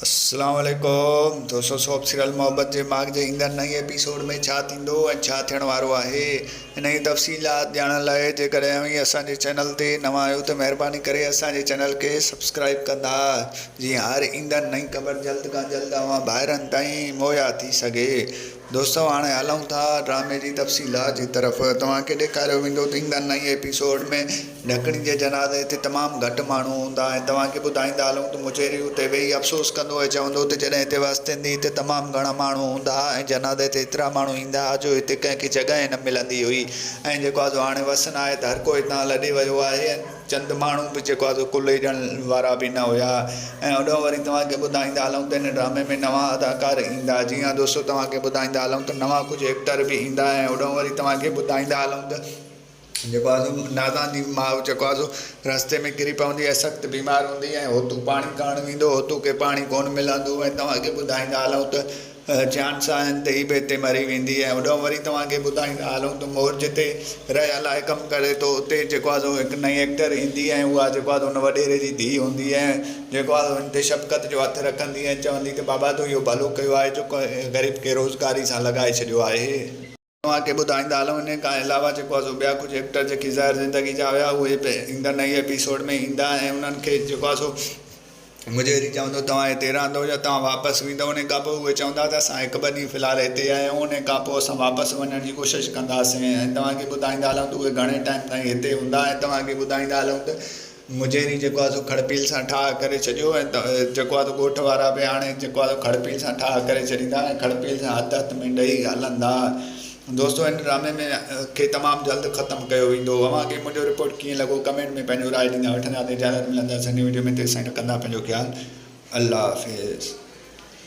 اسلام عليڪم دوستو سوپ سيريل محبت جي ماڳ جي ايندڙ نئين ايپيسوڊ ۾ ڇا ٿيندو ۽ ڇا ٿيڻ وارو آهي انهي جي تفصيلات ڄاڻڻ لاء جيڪڏهن اوهين اسان جي چينل تي نوان آهيو ته مهرباني ڪري اسان جي چينل کي سبسڪرائيب ڪندا جيئن هر ايندڙ نئين خبر جلد کان جلد اوهان ڀائرن تائين مهيا ٿي سگهي دوستو هاڻي هلون ٿا ڊرامي جي تفصيلات جي طرف توهان کي ڏيکاريو ويندو ته ايندڙ نئين ايپيسوڊ ۾ ڍڪڻي جي جنازي تي تمام گهٽ ماڻهو هوندا ۽ توهان کي ٻڌائيندا هلون ته مجيري اتي ويهي افسوس ڪندو ۽ چوندو ته جڏهن هتي وس ٿيندي هتي تمام گهڻا ماڻهو هوندا ها ۽ جنازي تي ايترا ماڻهو ايندا ها جو هتي ڪنهن کي جڳهه ئي نه ملندي هئي ۽ جيڪو آزو هاڻي وس ناهي ته هر ڪو هتان لڏي ويو آهي ۽ چند ماڻهو به جيڪو آهي سو ڪلهي ڏيڻ وارا به نه هيا ۽ هوڏانهن وري توهان کي ٻڌائيندا هلون ته هن ڊرامي ۾ نوان اداڪار ايندا جي ها دوستو توهان کي ٻڌائيندا هلون ته نوان ڪجهه ايڪٽر به ايندا ۽ هوڏانهن وري توهان کي ٻڌائيندا هلون ته جيڪو آهي سو نازان جي ماء جيڪو آهي سو رستي ۾ ڪري پوندي ۽ سخت بيمار هوندي ۽ هوتو پاڻي ڪرڻ ويندو هوتو کي پاڻي ڪون ملندو ۽ توهان کي ٻڌائيندا هلون ته جيان ساين تي ئي بيتي مري ويندي ۽ هوڏانهن وري توهان کي ٻڌائيندا هلون ته مور جتي ريا لاء ڪم ڪري ٿو اتي جيڪو آهي سو هڪ نئين ايڪٽر ايندي ۽ اها جيڪو آهي سو ان وڏيري جي ڌيء هوندي ۽ جيڪو آهي سو هن تي شفقت جو هٿ رکندي ۽ چوندي ته بابا تو اهو ڀلو ڪيو آهي جو غريب کي روزگاري سان لڳائي ڇڏيو آهي. اوهان کي ٻڌائيندا هلون انهي کان علاوه جيڪو آسو ٻيا ڪجهه ايڪٽر جيڪي ظاهر زندگي جا هيا اهي به ايندڙ نئين ايپيسوڊ ۾ ايندا ۽ انهن کي جيڪو آسو مجهري چوندو توهان هتي رهندو يا توهان واپس ويندو انهي کان پوء اهي چوندا ته اسان هڪ ٻه ڏينهن في الحال هتي آهيون انهي کان پوء اسان واپس وڃڻ جي ڪوشش ڪنداسين ۽ توهان کي ٻڌائيندا هلون ته اهي گهڻي ٽائيم تائين هتي هوندا ۽ توهان کي ٻڌائيندا هلون ته مجهري جيڪو آهي سو کڙپيل سان ٺاهه ڪري ڇڏيو ۽ جيڪو آهي سو ڳوٺ وارا به هاڻي جيڪو آهي سو کڙپيل سان ٺاهه ڪري ڇڏيندا ۽ کڙپيل سان هٿ هٿ ۾ ڏئي هلندا دوستو هن ڊرامي ۾ کي تمام جلد ختم ڪيو ويندو اوهان کي منهنجو رپورٽ ڪيئن لڳو ڪمينٽ ۾ پنهنجو راء ڏيندا وٺندا ته اجازت ملنداسين نئين وڊيو ۾ تيسين رکندا پنهنجو خيال الله حافظ